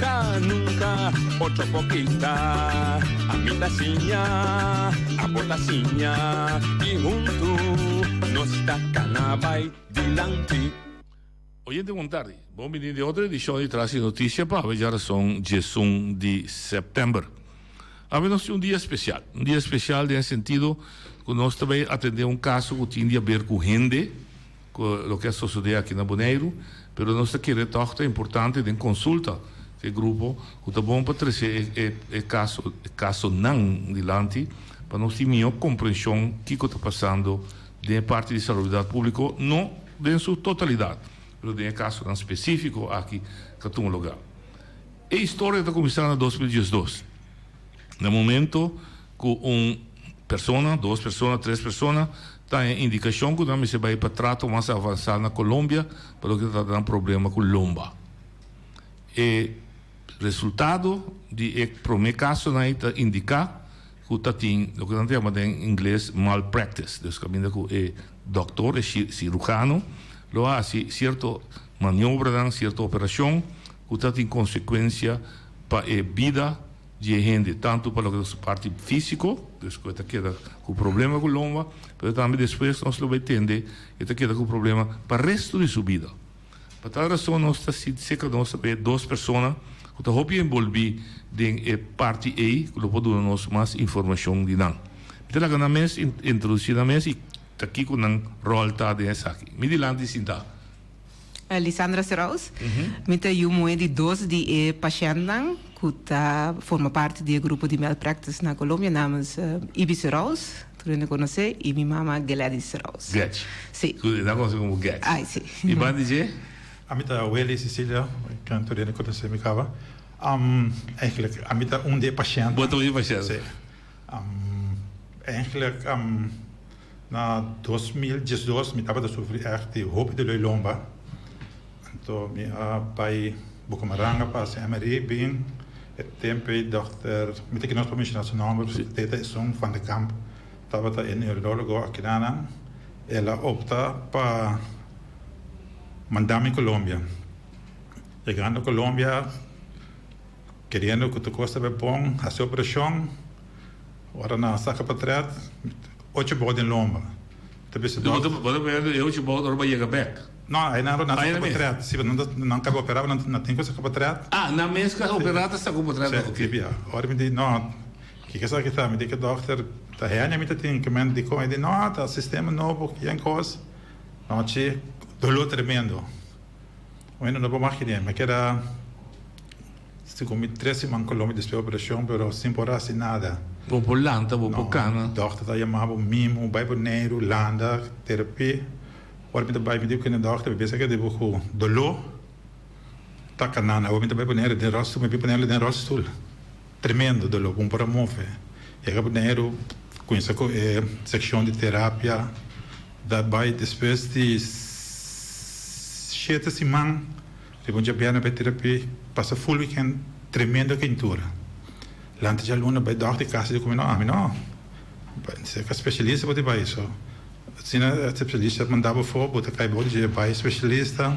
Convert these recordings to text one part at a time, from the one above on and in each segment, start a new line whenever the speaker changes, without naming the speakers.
Ca nunca otro por pinta A mi ta siña, abo ta siña Y huntu nos ta cana bay dilanti.
Oyente bon tardi. Bon bini di otro edicion di Tras e Noticia pa haber dja rason diesun di September. Awe nos tin un dia special. Un dia special den e sentido cu nos ta bay atende un caso cu tin di haber cu hende. cu loke a sosode aki na Boneiru, pero nos ta kere tog ta importante den consulta cu e grupo cu ta bon pa trece e caso, e casonan dilanti pa nos tin mihor comprension kico ta pasando den e parti di salubridad publico, no den su totalidad, pero den e casonan specifico aki ca tuma lugar. E historia ta cuminsa na dos mil diesdos, na momento. Ku un persona, dos persona, tres persona ta e indikashon ku nan mester bai pa trato mas avansá na Colombia pa loke ta trata nan problema ku lomba. E resultado di e promé kasonan ei ta indiká ku ta tin loke nan ta yama den ingles malpractice, dus kaminda ku e dòktor, e sirujano, lo hasi sierto maniobranan, sierto operashon ku ta tin konsekuensia pa e bida. di e hende, tantu pa loke ta su parti físiko, pues ku e ta keda ku problema ku lomba, pero tambe despues nos lo bai tende e ta keda ku problema pa restu di su bida. Pa tal rason nos ta sinti seka nos ta bay dos persona ku ta hopi enbolbí den e parti ei ku lo por duna nos mas informashon di nan. Mi ta laga nan mes introdusí nan mes i ta kiko nan ròl ta den esaki. Mi dilanti sintá.
Lisandra Seraus. Mi ta yu muhé di dos di e pashèntnan ku ta forma parti di e grupo di malpractice na Colombia, namus Ibi Seraus, tur hende konos'é, i mi mama Gladys Seraus. Gets. Sí. Ku
nan konos'é
komo Gets.
Ai, sí. I ban di
dje?
Ami ta Welly
Cecilia, ken tur hende konos'é mi kaba. Am, eigenlijk, ami ta un di e pashèntnan. Bo ta un di e pashèntnan. Sí. Eigenlijk na dos mil diesdos mi tabata sufri ègt di hopi di loi lomba. Anto mi a bai Bucamaranga pa hasi MRI. Bin e tempu ei dòkter, mi ta kinos pa menshona su nòmber, Teta Esun van de Kamp, tabata e neurólogo akinanan. El a opta pa manda mi Colombia. Yegando Colombia. Keriendo cu tur cos ta bay bon, haci operacion. Ora nan a saca pa trad, ocho bou den lomba. Ta bisa dokter. Bo ta wende
e ocho bou ora bo yega bek? No, ay nan ora nan a saca
pa trad. Si, pasobra nan caba opera, pero nan tin cu saca pa trad. Ah, nan mes cu a
opera ta sacu pa trad no? Ok. Tbia. Ora mi di, no,
ki ki esaki ta? Mi di, e dokter ta hende mi ta tin cu mente dicon. E di, no, ta sistema nobo, ken cos. No, chi, dolor tremendo. Bueno no por maki den me keda si con mi tres siman Colombia despues di operacion pero sin por haci nada. Bo por lanta bo
por cana. No doctor ta yama bo
mismo bay Boneiru landa terapi ora mi ta bay mi di kende doctor mi pensa ke di bo cu dolor ta canana ora mi ta bay ponelo den rolstoel mi a bin ponelo den rolstoel. Tremendo dolor bon para move e rabnero cuminsa cu e seccion di terapia da bay despues di shete siman riba un djabiana bay terapi pasa full weekend tremendo kintura lanta djaluna bay dog di casa di cu mino ami no bay ca specialista bo ta bay so asina specialista manda bo fo bo ta cay bow di dje bay specialista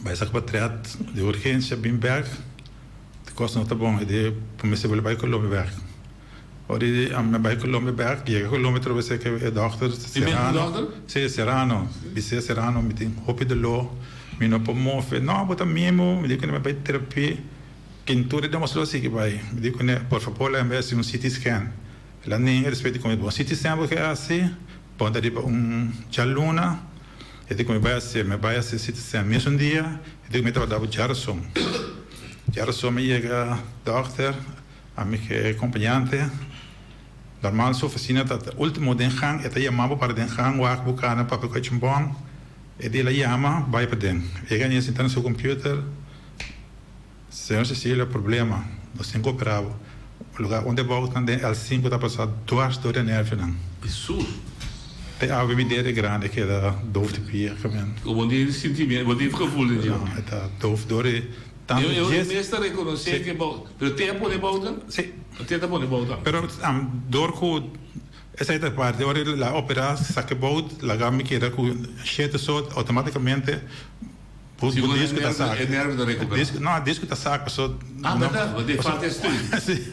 bay saca bo tret di urgencia bin bek. di kos no ta bon y di por mester wili bay Colombia bek. Ora di ami a bay Colombia bek, yega Colombia trobe a seke e dokter Serrano, si Serrano, mi siña Serrano mi tin hopi doló, mi no por move, no bo ta mimo, mi di kuné, bay terapia, ken tur e damos lo a sigui bay? Mi di kuné, por fabor laga mi hasi un CT scan, el a nega a respeto di kume bo un CT scan bo ke hasi, ponta riba un djaluna. E di ku mi bai hasi, mi a bai hasi city scan mesun dia. E di ku mi a trabada ku Gerson. Gerson a yega dòkter, ami ku e kompañante. Normal su ofisina ta ultimo den gang. E ta yama bo para den gang wak bo kana papia ku a chin bon. E di el a yama, bai paden. Yega ania sinta na su kompüter. Señor Cecilia problema nos tin cu opera bo lugar unda e bouw tan den el cinco ta pasa duars dor de nervio nan y sur
e
awe mi dede grande keda doof di pia camin o bo tin sentimiento
bo tin gevoel den dje nan e ta doof
dor di tanto dje e mes ta reconoce
ke
bouw
pero te a pone bouw ta si te ta
pone bouw ta pero am dor cu esai ta parti ora la opera sa ke bouw laga mi keda cu shete so automaticamente. Por si bo dies cu ta saca. E nerve ta recuperá. No,
a dies cu ta saca paso.
Ah, berdad, bo dei
falta e stream. Sí.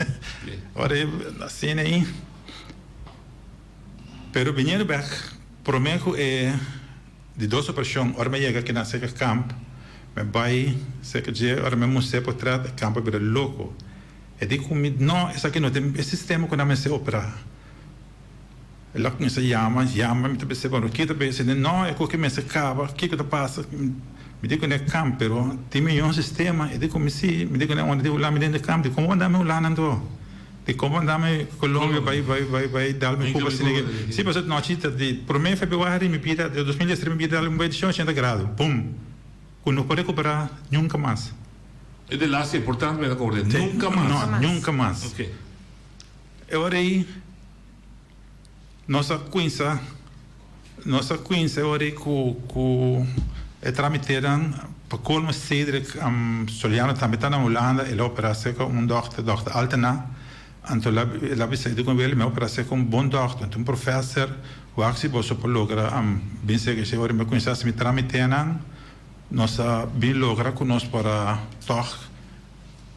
Ora e asina ahí. Pero biniendo bek, prome cu e di dos operacion, ora mi a yega aki na Seka Kamp, mi a bai seka dje, ora mi a mustra e portret, e kamp a bira loco. E di cu mi, No, esaki no ta e sistema cu nan mester operá. El a cuminsa yama, yama, mi ta bisa cu anto kita bey, sende no e coke mester caba, kico ta pasa, mi di cu n'e camp, pero tin mi yon sistema, e di cu mi si, mi di cu n'e ora di hulami den e camp, di como bo a dami hulana anto, di como bo a dami Colombia bay, bay, bay, bay dal mi cuba asina que, si pasobra nochi ta di prome Februari mi bira, di dos mil dies tres mi bira dal un bay di ciento ochenta grado, bum, cu no por recupera nunca mas. E di laster,
por tanto mi ta corda, nunca mas. No, nunca mas. Ok. E
ora ei nos a cuinsa, nos a cuinsa e ora ei cu, cu e tramitenan, pa colmo Cedric Soliano tambe ta na Hulanda, el a opera cerca un dokter, Dokter Altena, anto el a bisa e dicon Willy mi a opera cerca un bon dokter, anto un professor, wak asi boso por logra bin cerca esey, e ora mi a cuinsa si mi tramitenan nos a bin logra cu nos por a tog.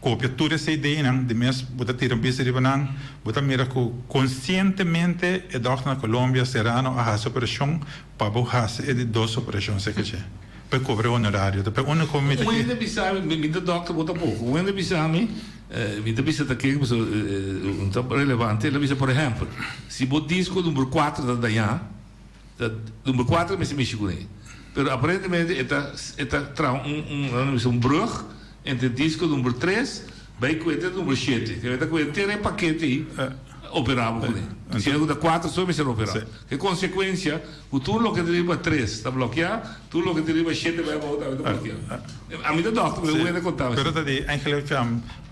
Kopia tur esei deinan di mes, bo ta tira un bista riba nan, bo ta mira ku konsientemente e dòkter na Colombia, Serrano, a hasi operashon pa bo hasi e di dos operashon seke dje, pa e kobra e honorario. Ta pe unda ku mi ta kiri. Wende bisa mi, mi
ta dòkter, bo ta poko. Wende bisa mi, mi ta bisa ta ke ku ta relevante. El a bisa, por ehèmpel, si bo disko numero kuater ta dañá. Ta number cuatro mester mishi cune. Pero aparentemente e ta e ta traha un un nan bisa un brug entre disco number tres bay cu e ta number shete. Te mester cu henter e pakete ei operabo cune. Si e cu ta cuatro so mester opera. Cu consecuencia cu tur loke ta riba tres ta blokia, tur loke ta riba shete bay abaw tambe ta blokia. A mi ta doctor pero wende conta mi. Pero ta di engelek,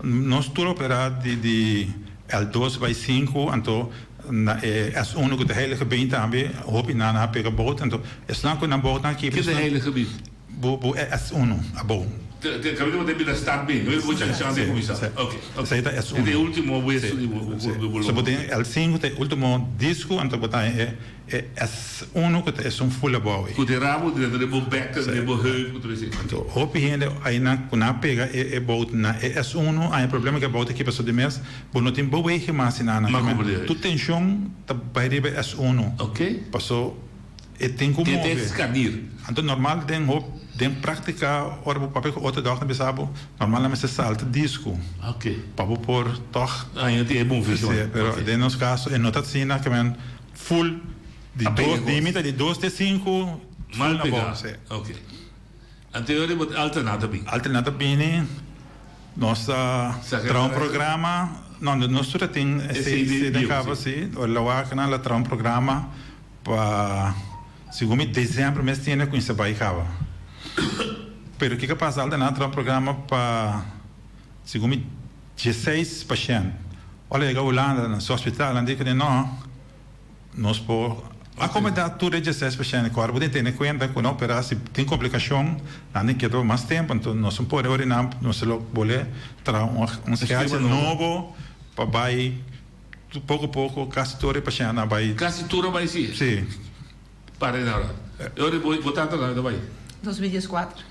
nos tur opera di di el dos bay cinco anto Na e S uno cu ta Heilige Been tambe hopi nan a pega bout, anto esnan cu nan bout aki. Ken ta Heilige Been?
Bu bu e S
uno abou. Te caminda bo ta e
bida Stad Been, no e bo can chance di cuminsa. Ok, ok. Esey ta S uno. E ta e
ultimo
hueso di bo
corpo cu bo lo. So bo tin L cinco ta e ultimo disco, anto bo ta e e S uno cu ta esun full abou ey. Cu ta e rabo dreto den bo bek, den bo
heup, cu ta bay esey. Anto hopi hende
aynan cu nan a pega e bout na e S uno, aña problema cu e bout aki paso di mes. Bo no tin bewege mas y nada nada. Tu tension ta bay riba es uno. Paso e tin cu move.
Anto normal den
hopi den practica ora bo papia cu otro dok ta bisa bo normal nan mester salta disco pa bo
por
tog hacia.
Pero den nos caso
e no ta asina ke men full di dos dimita di dos te cinco full na
bo. Anterior riba ta Alterna ta bini. Alterna ta bini, nos ta
traha un programa, no nos tur a tin e seis di cabo si, ora la wak nan la traha un programa pa segun mi december mes tin e cu insa bay caba pero kico pasa Alterna traha un programa pa segun mi dieseis pashent ora la yega Hulanda nan su hospitalan di cu di no. Nos por akomodá tur e djeseis pashènt. Kòrda bo tin tene kuenta ku nan operá si tin komplikashon, nan tin keda pa mas tempu. Anto nos tin pone ora i nan nos ta lo bolé traha un skèdjel nobo pa bai poko a poko. Kasi tur e pashèntnan a bai. Kasi tur a bai si?
Si.
Pare
nan. E ora bo tata nan ta bai? Dos mil
dieskuater.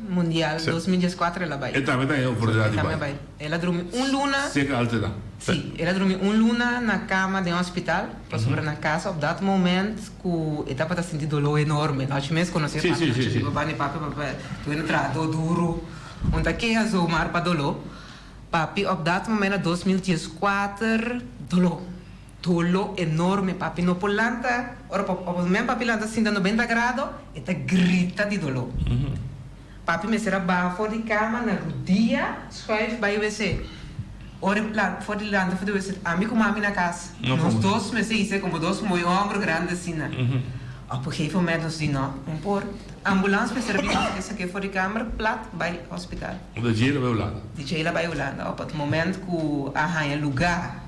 Mundial dos mil dies kuater el a bai. E tambe ta haya oportunidad di
bai. El a drumi
un luna. Seke al te na.
Sí, el a drumi
un luna na cama den hospital pasobra na casa op dat moment cu e tabata sinti dolor enorme nochi mes conoci e papia nochi mi papá ni papia
papia
tu ene trahador duro un ta keha so maar pa dolor papi op dat moment na dos mil dies kuater dolor. Dolo enorme papi no por lanta ora pa ora men papi lanta sinta noventa grado e ta grita di dolo papi mester a baha for di cama na rudia schuif bay wc ora e la for di lanta for di wc ami cu mami na cas nos dos mester hise como dos moe homber grande asina ora por gegeven moment nos di no no por ambulance mester a bini nos mester saca e for di cama plat bay hospital
di djela bay hulanda
ora pa moment cu a haya lugar.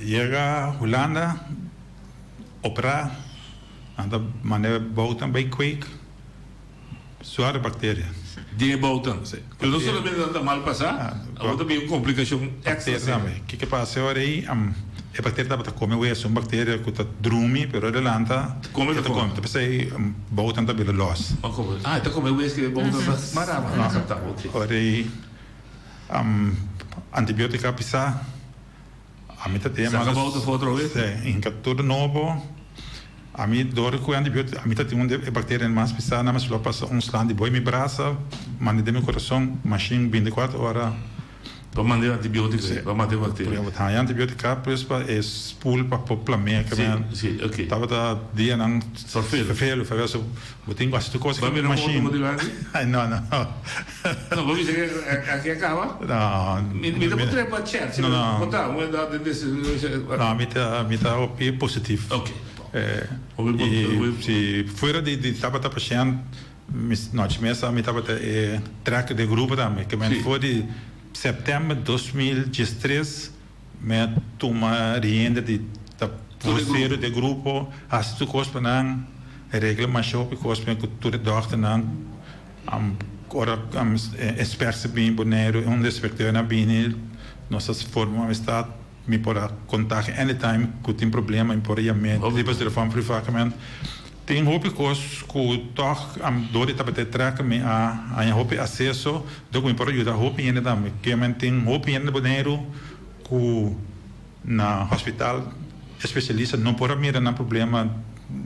Yega
Hulanda, opera, nan ta mane boutan bay kweek, suare bacteria. Den e boutan,
sí. Pero no solamente nan ta mal pasa, abo tambe un complicacion extra serie. Kico pa hace ahora
ey? E bacteria tabata come wees, un bacteria cu ta drumi, pero adelanta e ta come, ta pasa
ey
boutan ta bira los. Ah, e ta come
wees cu e boutan ta mara, mara, ok. Ahora
ey antibiotica a bisa. Ami ta tin hermanos. Sacabao ta for otro vez.
Sí, hinca tur
nobo. Ami door cu e antibiotico, ami ta tin un de e bacteria el mas pisa, nada mas lo pasa un slang di boi mi brasa, mandi den mi corazon, machine binticuatro hora. Pa manda e
antibiotico ahí, pa mata e bacteria. Porque abo ta haya antibiotico acá,
pues pa e spoel pa por plamea, que Sí, men sí, ok. tabata
dianan
Favelo. favelo, favelo, so. Bo tin basta tu cosa cambia machine.
No no. No bo bisa cu aki a caba? No. Mi
ta por trepa
chat si bo bo ta bo ta
den
deci No mi ta
mi ta hopi positivo. Ok
y
si fuera di di tabata pashent mi nochi mi a sa mi tabata e track de grupo tambe kimen for di september dos mil diestres Mi a tuma rienda di ta vocero di e grupo, hasi tur cos pa nan, regla masho e cos mi cu tur e dokternan. Ora experts ta bini Bonaire, unda e inspecteur na bini, nos a forma un amistad, mi por a contact anytime cu tin problema, mi por a yam'e di pasobra van priva cu mi. Tin hopi cos cu tog a dor y tabata trek mi a haña hopi acceso dor cu mi por a yuda hopi hende tambe. Kemen tin hopi hende na Boneiru cu na hospital especialista no por a mira nan problema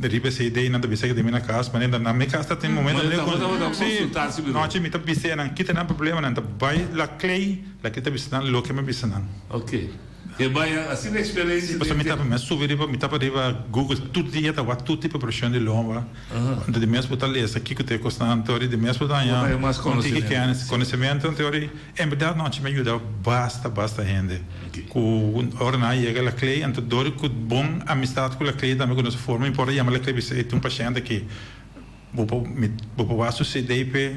riba esey de y nan ta bisa cu den mi na cas manera nan mi cas ta tin momento awe cu si nochi mi ta bisa nan kita nan problema nan ta bay la clay la clay ta bisa nan loke mi a bisa nan.
E baya así na experencia den te. Mi a subi
riba, mi tapa riba Google tur dia ta wak tur tipo presion di lomba, anto di mes bo ta lesa kiko ta e kosta anto ori di mes bo ta haña un tiki kenis, konosementu anto ori en berdad nochi mi a yuda basta basta hende ku ora nan a yega lakley anto dor ku bon amistad ku lakley tambe ku nos a forma importa yama lakley bisai tin un pashent aki bo por mi bo por wak su cd p'e.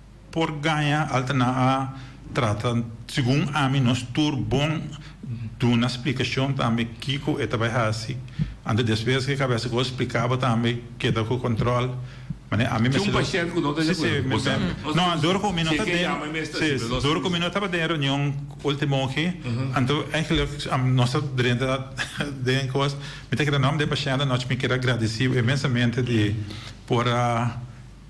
por gaña alta na a trata segun ami nos tur bon duna splikashon tambe kiko e ta bai hasi anto despues ke kabesa ku spliká bo tambe keda ku kontròl manera ami mester lo si si
no dor ku mi no ta
den si dor ku mi no tabata den reunion ultimo ke anto eigenlijk nos ta drenta den kos mi ta keda nom den pashènt anochi mi keda gradisi inmensamente di por a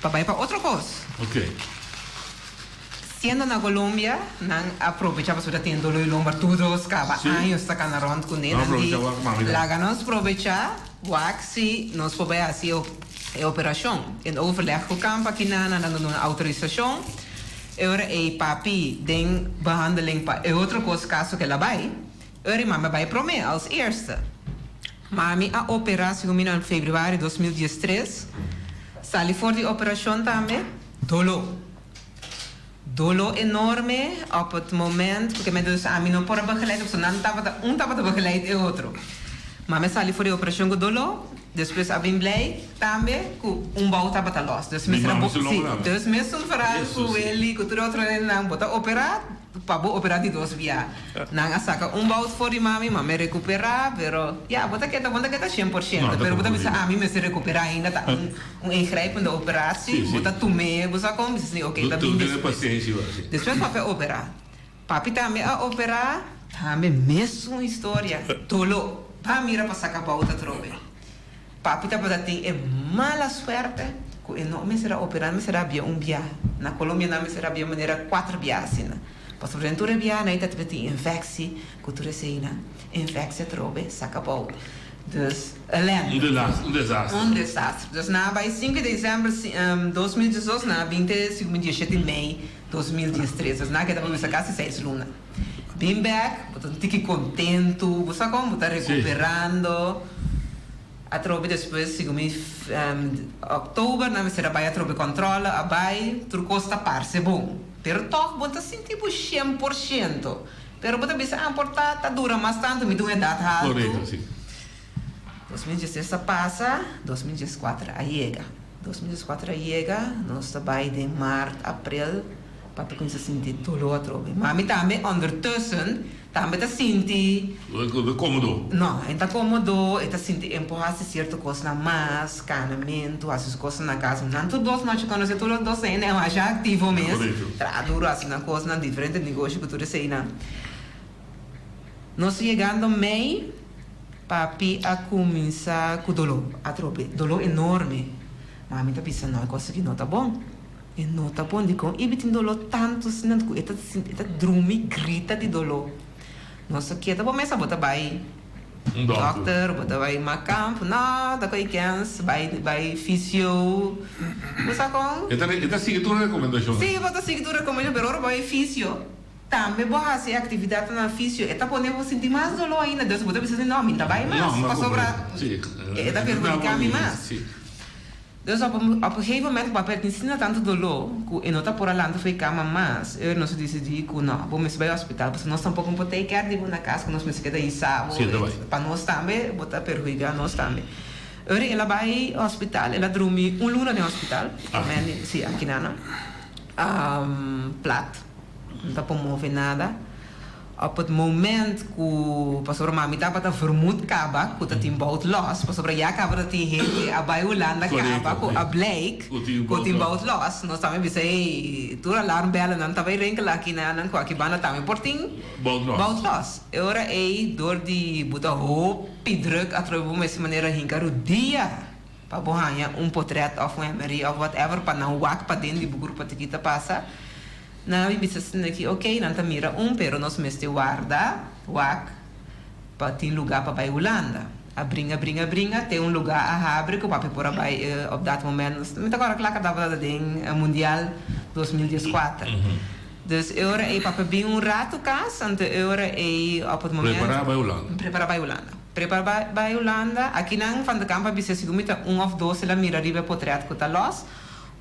pa bai pa otro kos. Siendo na Colombia nan a probecha pasobra tin dolo y lomber tur dos caba años ta cana rond cu nenan di laga nos probecha wak si nos por bai haci e operacion. Den overleg cu kamp aki nan a dando nos autorisacion. E ora ey papi den behandeling pa e otro kos caso ke labai. Eri mami a bai prome, als eerste. Mami a opera, segun mi, nan februari dos mil dies tres. Sali for di operashon tambe. Dolo. Dolo enorme op het moment, purke me dus ami no por a begeleid, pasobra nan tabata, un tabata begeleid e otro. Mami a sali for di operashon ku dolo, despues a bin blij tambe ku un bou tabata los. Dus mester a, si, dus mester veradu ku Willy, ku tur e otro nennan bo ta opera. Pa bo operá di dos bia. Nan a saka un bout for di mami, mami a recuperá, pero ya, bo ta keda, bo no ta keda cien por ciento, pero bo ta bisa, ami mester recuperá ainda, ta un un ingrijpende operaci, bo ta tum'é, bo sa con, mi sini, oké, ta bin despues. Despues papi a operá. Papi tambe a operá, tambe mesun historia, doló, pa mira pa saka bout atrobe. Papi tabata tin e mala suerte cu e no mester a opera, nan mester a bia un bia. Na Colombia nan mester a bia manera cuater bia asina, pasobra den tur e bianan e tabata tin infecci cu tur eseinan, infecci atrobe, s'acabou. Dus, elende. Un desastre. Un desastre. Dus nan a bay cinco de december dos mil diesdos, nan a bin te, si cu mi, diecisiete mei dos mil diestres. Dus nan a keda pa bisa casi seis luna. Bin bek, bo ta sinti ki kontentu, bo sa kon, bo ta rekuperando. Atrobe despues, segun mi, òktober nan mester a bai atrobe kòntròle, a bai, tur kos ta parse bon. Pero tòg bo no ta sinti bo shen por shento. Pero bo ta bisa, ah, por ta ta dura mas tantu, mi ta un edat haltu. Dos mil
diestres
a pasa, dos mil dieskuater a yega. Dos mil dieskuater a yega, nos ta bai den maart, aprel, papi kuminsá a sinti doló atrobe i mami tambe ondertussen tambe ta sinti. No e ta kómodo. No,
e no ta kómodo,
e ta sinti empuhá hasi sierto kosnan mas, kanamentu, hasi su kosnan na kas. Nan tur dos nochi kua nos yega tur los dos hende e masha aktivo mes, traha duru, hasi nan kosnan, diferente negoshi ku tur eseinan. Nos yegando mei, papi a cuminsa cu dolo, atrobe, dolo enorme. Mami ta bisa nan cosa ki no ta bon. E no ta bon dicon Ibi tin dolo tanto asina cu e ta e ta drumi grita di dolo. Nos a keda bo mesa bo ta bay doctor, bo ta bay makamp, no ta cu e kens bay bay fisio. Bo sa con? E ta e ta sigui tur
recomendacionnan. Si, bo ta sigui tur
recomendacionnan, pero ora bo bay fisio. Tambe bo hasi e actividadnan fisio e ta pone bo sinti mas dolor ainda, dus bo ta bisa si no mi ta bay mas pasobra e ta perhudica mi mas. Dus op un gegeven moment cu papi a tin sinta tanto dolor cu e no ta por a lanta fo'i cama mas, Ernest a decidi cu no, bo mester bay hospital pasobra nos tampoco no por take care di bo na cas cu nos mester keda hisa bo, pa nos tambe bo ta perhudica nos tambe. Ernest el a bay hospital, el a drumi un luna den hospital, si aki nana, plat. no ta por move nada. Op het moment cu, pasobra mami tabata vermoed caba cu ta tin bout los, pasobra ya caba ta tin hende a bay Hulanda caba cu a bleek cu tin bout los, nos tambe a bisa hey, tur alarm bellennan ta bay rinkelen aki na nan cu aki banda tambe por tin bout los. E ora ey door di bo ta hopi druk atrobe bo mester manera hinca rodia. Pa bo haña un potret òf un hemmerie òf whatever pa nan wak paden di bo grupo tiki ta pasa. Nan a bin bisa sende aki, ok, nan ta mira un pero nos mester warda wak pa tin lugá pa bai Hulanda. A bringa, bringa, bringa te un lugá a habri ku papi por a bai op dat moment. Mi ta kòrda kla ku a tabata aden mundial dos mil dies kuater. Dus e ora ei papi a bin un ratu kas, anto e ora ei òf e moment. Prepará bai Hulanda. Prepará bai Hulanda. Trepa bai Hulanda. Aki nan van de Kamp a bisa sicu mi ta un of dos el a mira riba e potret cu ta los.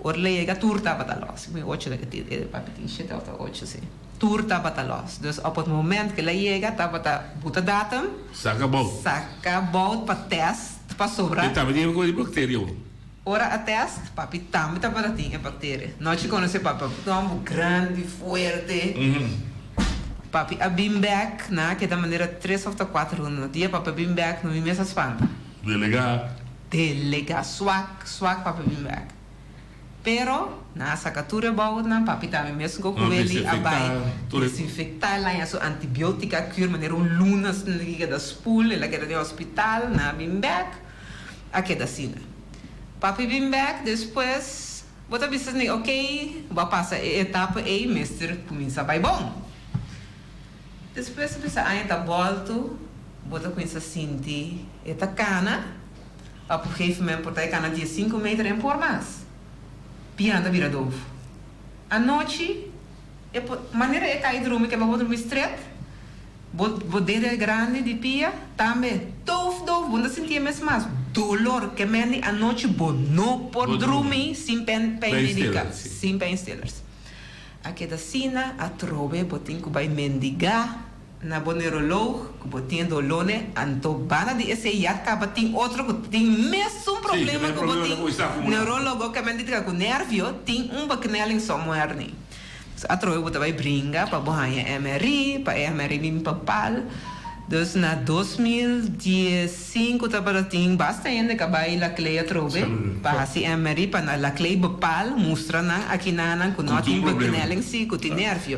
Ora el a yega tur tabata los. Mi ocho ta kiti e papi tin shete of ta ocho si. Tur tabata los. Dus op e moment cu el a yega tabata buta datum. Saca bout. Saca bout pa test pasobra. Mi tabata yega cu e bacteria
bo. Ora a
test, papi tambe tabata tin e bacteria. Nochi cuando se papi a tuma bo grandi, fuerte, papi a bin bek, nan a keda manera tres of ta cuater runda. Na dia papi a bin bek, no mi mes a spanta. Delega. Delega,
suak, suak papi a
bin bek. Pero, nan a saca tur e bout nan, papi tambe mes go cu Willy a bay desinfecta, e laña su antibiotica, a cur manera un luna asina, e keda spool, el a keda den hospital, nan a bin bek. a keda asina. Papi bin bek, despues bo ta bisa esei, ok, bo a pasa e etapa ei, mester kuminsá bai bon. Despues bisa aña ta bòltu, bo ta kuminsá sinti e ta kana, pa p'un gefe moment por ta e kana dies sinku meter, e no por mas. Bian ta bira dovu. Anochi. E por manera e kai drumi keba bo drumi stret, bo bo dedo e grandi di pia, tambe tuf dof bo no ta sinti e mes mas dolor ke mendi anochi bo no por drumi sin pen peinmedica sin peinstillers a keda asina atrobe bo tin ku bai mendiga. Na bo neurolog cu bo tin dolone anto bana di esey ya tabatin otro cu tin mesun problema cu bo tin neurologo ca menti ca cu nervio tin un beknelling so muer ni dus atrobe bo ta bay bringa pa bo haya mri pa e mri mi papal dus na dos mil diescinco tabata tin basta hende ca bay lacley atrobe pa haci mri pa na lacley bepal mustra nan aki nanan cu no tin beknelling si cu tin nervio.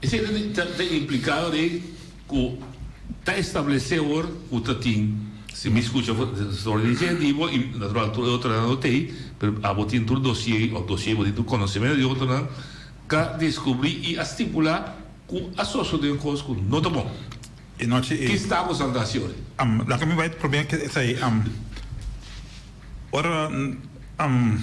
Esei ta ta impliká de ku ta establesé wòrd ku ta tin si mi skucha for for di inisiativo i natural tur e otronan lo tei, pero abo tin tur dosié òf dosié bo tin tur konosementu di otronan ta deskubrí i a stipulá ku a sosodé un kos ku no ta bon. E nochi e.
Ki stap bo saltá
si ora? Am, laga mi bai
probeá ke esei, am, ora, am.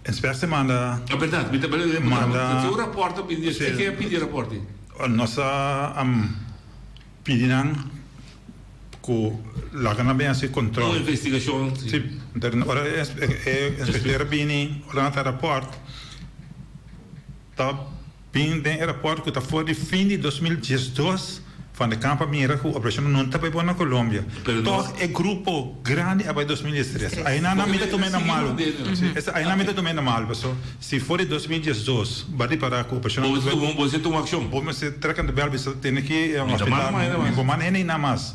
Esper si manda A berdad, mi ta bali lei patrón.
Manda. Nan tin un rapport ta pidi. Espe ke a pidi rapport ei? Nos ta
pidi nan ku laga nan bin hasi kontrol. Un investigashon,
si. Si.
Ora e inspekter a bini, ora nan ta rapport. Ta bin den e raport ku ta for di fin di dos mil diesdos van de Camp a mira ku Operashon Unun ta bai bon na Colombia. Tog e grupo grandi a bai dos mil diestres. Aina nan mi ta tuma e na malu. Esa aina mi ta tuma e na malu paso si for di dos mil diesdos bai repará ku Operashon Unun ta bai bon bo mester tuma akshon.
Bo mester trek anto bel
bisa tene ki afektá mi bo manda hende einan mas.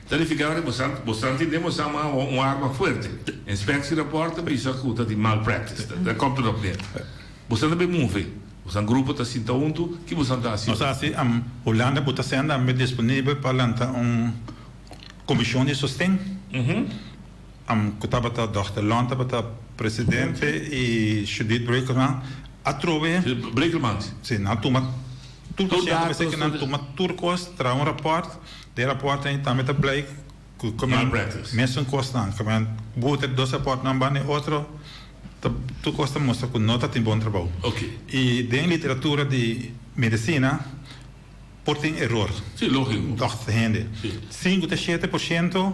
Ta
nifiká ku bo sa ntindé bo sa m'a un arma fuerte. Inspeksierapòrt ta bisa ku ta di malpraktise, ta kòmper òf nen. Bo sa ta be move, bo sa grupo ta sinta huntu, ki bo sa ta hasi? Nos a hasi am
Hulanda ku ta senda ambe disponibel pa lanta un komishon di sosten. Am ku tabata dòkter Lon tabata presidente i Judith Brekelman a trobe. Brekelman? Si,
nan a tuma
tur pasiente, pasobra ke nan tuma tur kos, traha un rapòrt. Den rapòrt ei tambe ta blei ku kamen mesun kosnan, kamen buho ta dos rapòrtnan banda e otro, ta tur kos ta mustra ku no ta tin bon trabou. I den
literatura
di medisina por tin eror. Dòkter
ta hende.
Sinku ta shete por shento.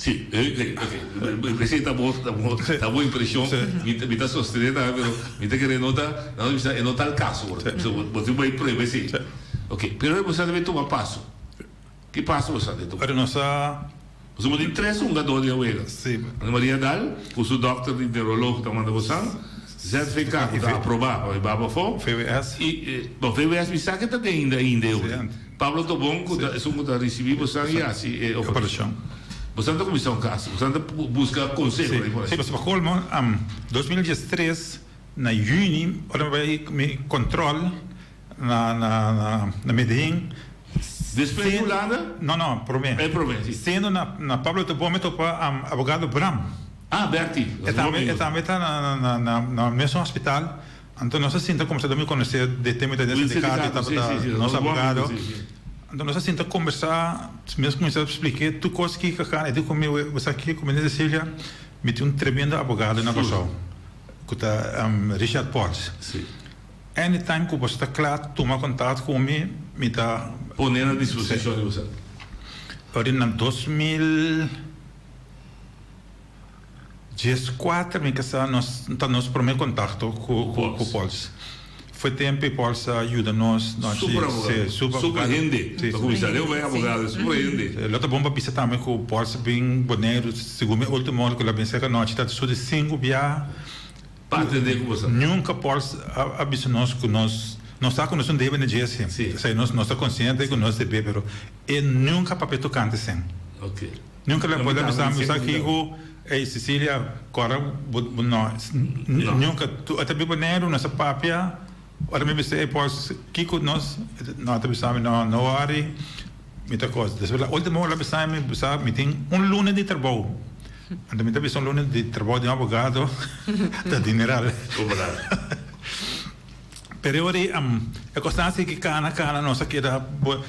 Si,
mi presenta bo ta bo impresion, mi ta sostene tambe, pero mi ta kere nota, nan lo bisa e no ta el kaso, bo tin bai prueba esei. Ok, pero boso a bai tuma paso, ki paso boso a tuma? Pero nos ta. Boso tin tres hungador di awega, Ana Maria Dal, ku su dòkter di neurolog ta manda bosan, ZVK ku ta aproba pa bai baba afó, i VWS mi sa ke ta den ainda e hende. Pablo Tobon cu ta esun cu ta ricibi bosan y haci e operacion.
Bosan ta cuminsa
un cas, bosan ta busca conseho ay por ahi. Si, pa colmo,
dos mil dies tres na juni ora mi bay mi control na na Medehin, Despues
di Hulanda? No, no, prome. E
prome, si.
Siendo
na
na Pablo
Tobon mi topa abogado Bram. Ah, Bertie.
E tambe e tambe ta
na na na na mesun hospital. Anto nos a sinta kombersá dor mi konosé de temita den sindikato i tabata nos abogado. Anto nos a sinta kombersá mes kuminsá splik'é tur kos ki ka kana. E di ku mi, Bo sa ke? Ku mi di Cecilia, Mi tin un tremendo abogado na Kòrsou ku ta Richard Potts.
Any time
ku boso ta kla tuma kontat ku mi, mi ta pon'é na disposishon
di boso. Ora
na dos mil. Dje skuater mi ke sa nos ta nos prome kontakto ku ku Pòls. Fue tempe Pòls a yuda nos nòchi se
super abogado super hende lo ta bon pa bisa tambe
ku Pòls bin Boneiru segun mi ultimo ora ku lo a bin serka nòchi ta su di sinku bia
nunka Pòls
a bisa nos ku nos nos sa ku nos un debe na Djesse esei nos ta konsiente ku nos debé pero e nunka papia tokante sen. Nunca
le pueda
misa mi sa ki u ey Cecilia cora bu bu no nunca tu ata biba neru no sa papia ora mi bisa ey pos kico nos no ata bisa mi no no worry mi ta cos despues la ultima hora la bisa mi bisa mi tin un lunes di trabou anto mi ta bisa un lunes di trabou di un abogado ta dineral peri ora ey am e cos nan a sigui cana cana nos a keda bo.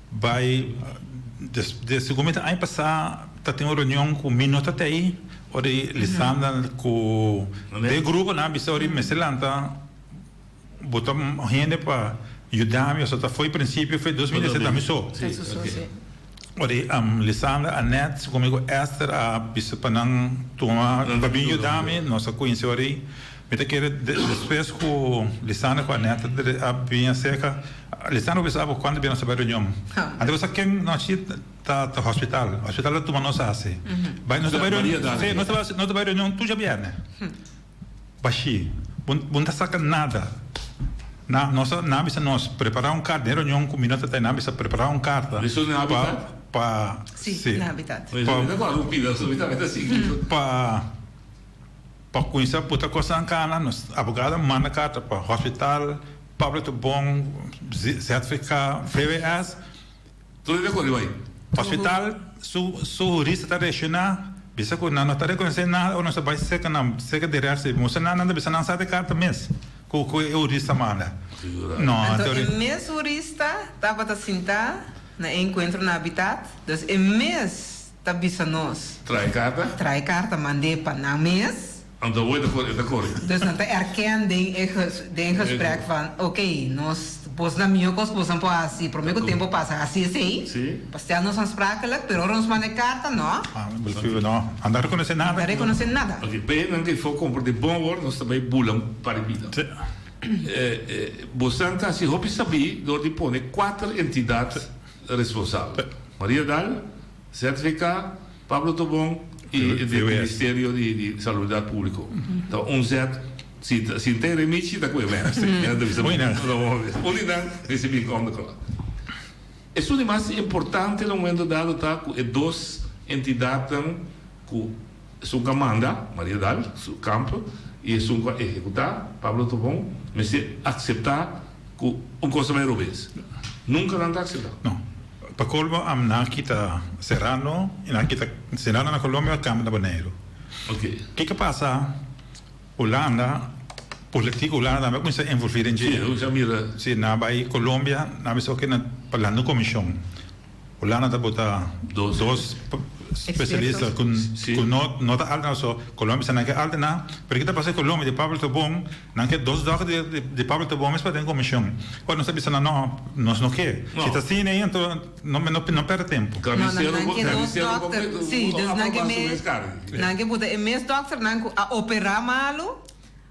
Bai desde cu mi ta aña pasa ta tin un reunion cu mi no ta te ayi ori Lisandra cu de gruponan a bisa ori mester lanta bota hende pa yuda mi so ta fo'i principio fo'i dos mil diecisiete ta mi so ori Lisandra Anet su conmigo Esther a bisa pa nan tuma pa bin yuda mi nos a cuinsi ori Mi ta kere despues ku Lisandro ku Anette a bin a serka, Lisandro bisa abo kuantu bira nos ta bai reunion. Anto bisa ken nochi ta ta hospital, hospital ta tuma nos hasi bai. Nos ta bai reunion, si nos ta bai nos ta bai reunion tur djabièrnè. Bashí, bo bo no ta saka nada na nos, nan a bisa nos prepara un karta den reunion ku mi no ta ta, nan a bisa prepara un karta pa
pa si
pa pa.
Pa kuminsá puta kosnan kana, nos abogado a manda karta pa Hospital Public te Bon, ZVK, VWS. Tur e rekoge bai.
Hospital
su su hurista ta reakshoná, bisa ku nan no ta rekonosé nada o nos a bai serka nan, serka di rechtse. Moso nan, nan ta bisa nan sa te karta mes ku ku e hurista manda. No, te Anto e
hurista. mes hurista tabata sintá na e enkuentro na Habitat, dus e mes. Ta bisa nos. Trae carta. Trae
carta
mande pa nan mes. Anto wet for e
ta corri. Dus nan ta erken
den e den gesprek van ok nos bos na mijo cos bos nan por haci prome cu tempo pasa haci esey pa stel nos ansprakelijk pero ora nos manda e carta no. Nan
ta reconoce nada. Nan ta reconoce nada. Ok
pa e nan cu e for
compra den bon wor nos ta bay bula paribida. Bos nan ta haci hopi sabi door di pone cuater entidad. responsabel. Maria Daal, ZVK, Pablo Tobon y di Ministerio di Salubridad Publico. Ta un ZC. Ta si n'ta e remichi ta cu e mens. Esta e entrevista bo mester ta dor hopi. Un di nan mester bin come cu nan. Esun di mas importante na momento dado ta cu e dos entidadnan cu. Esun ku a manda, Maria dal su kampo, i esun ku a ehekutá, Pablo Tobon, mester akseptá ku un kos ta bai robes. Nunka nan ta akseptá. No. Pa
kolmo am nan a kita Serrano i nan a kita Serrano na Kolombia, Camp na Boneiru. Oke. Ke ke
pasa
Hulanda, politiek Hulanda tambe a kuminsá envolví den dje. Si, a kuminsá mira. Si
nan a bai
Kolombia, nan a bisa oke nan pa lanta un komishon. Hulanda ta bota dos specialista cu nota alta na su Colombia sa nan ke alta nan pero ki ta pasa Colombia di Pablo Tobon nan ke dos dokter di Pablo Tobon mes pa den comision oca nos ta bisa nan no nos no ke si ta si nei anto no perde tempo. Carnicero bo carnicero bo me aprobas
su mes carne. Nan ke bota e mes dokternan cu a opera malo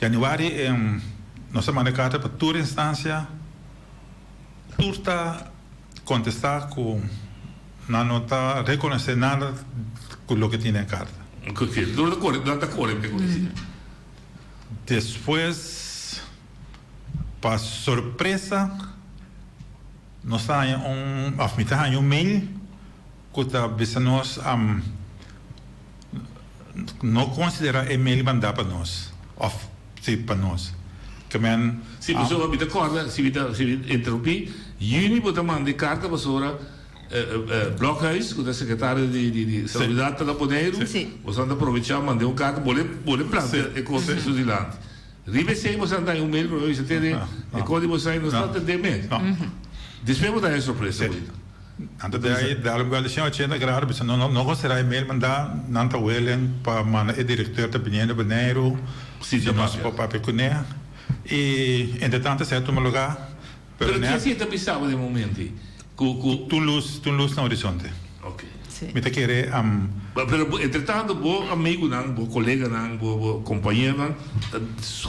Januari nos ta manda carta pa tur instancia, tur ta contesta cu nan no ta reconoce nada cu loke tin den carta.
Nan ta core pe cosas asina. Despues
pa sorpresa nos ta haña un, of mi ta haña un mail. Cu ta bisa nos, No considera e mail manda pa nos, of si pa nos. Ke men.
Si pasobra mi ta corda, si mi ta interrumpi, Juni bo ta manda e carta pasobra Blokhuis, cu ta secretario di Salubridad ta na Boneiru, boso anta provecha manda un carta, bo le plantea e cosa eso dilanti. Riba esey boso anta hay un mail pa mi, bo bisa tene e cosa di boso hay, nos no anta den mes. Despues bo ta hay e sorpresa. Anto den
e dal un bèlishon ochenta grado bisha no no go será e mail mandá nan ta willing pa manda e director ta biniendo Boneiru sitio nos por papia kuné i entretanto esei a tuma lugá pero nèt Kies i e
ta bisa bo den momento ei ku ku T'un
lus t'un lus na horizonte Okay.
mi ta kere
am. Pero
entretanto bo amigunan bo koleganan bo bo compañeronan Ta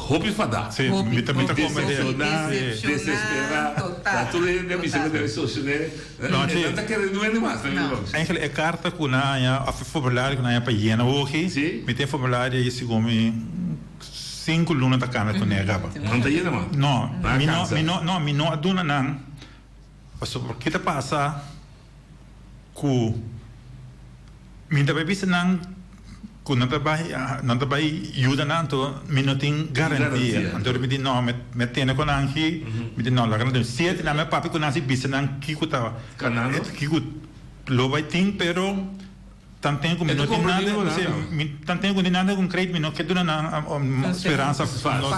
hopi fadá. Sí, mi ta mi ta come
di el. Decepcioná,
desesperá. Total. Tur e hende a bisa ku nan e socio nan e nan ta kere no e mas nan e loke. Angel, e karta
ku nan haña òf e formulario ku nan haña pa yena hochi, mi ta e formulario ei segun mi sinku luna ta kami ku nega pa. No ta yena mas? No,
mi no mi no
mi no a duna nan pasobra ke ta pasa? ku mi ta bai bisa nan ku nan ta bai nan ta bai yuda nan anto mi no tin garantia anto mi di no mi tene ku nan aki mi di no laga nan dor siete nan mi papia ku nan si bisa nan kiko ta kiko lo bai tin pero Tanten ku mi no tin nada, mi tanten ku tin nada ku kreit mi no ke duna nan speransa falsu.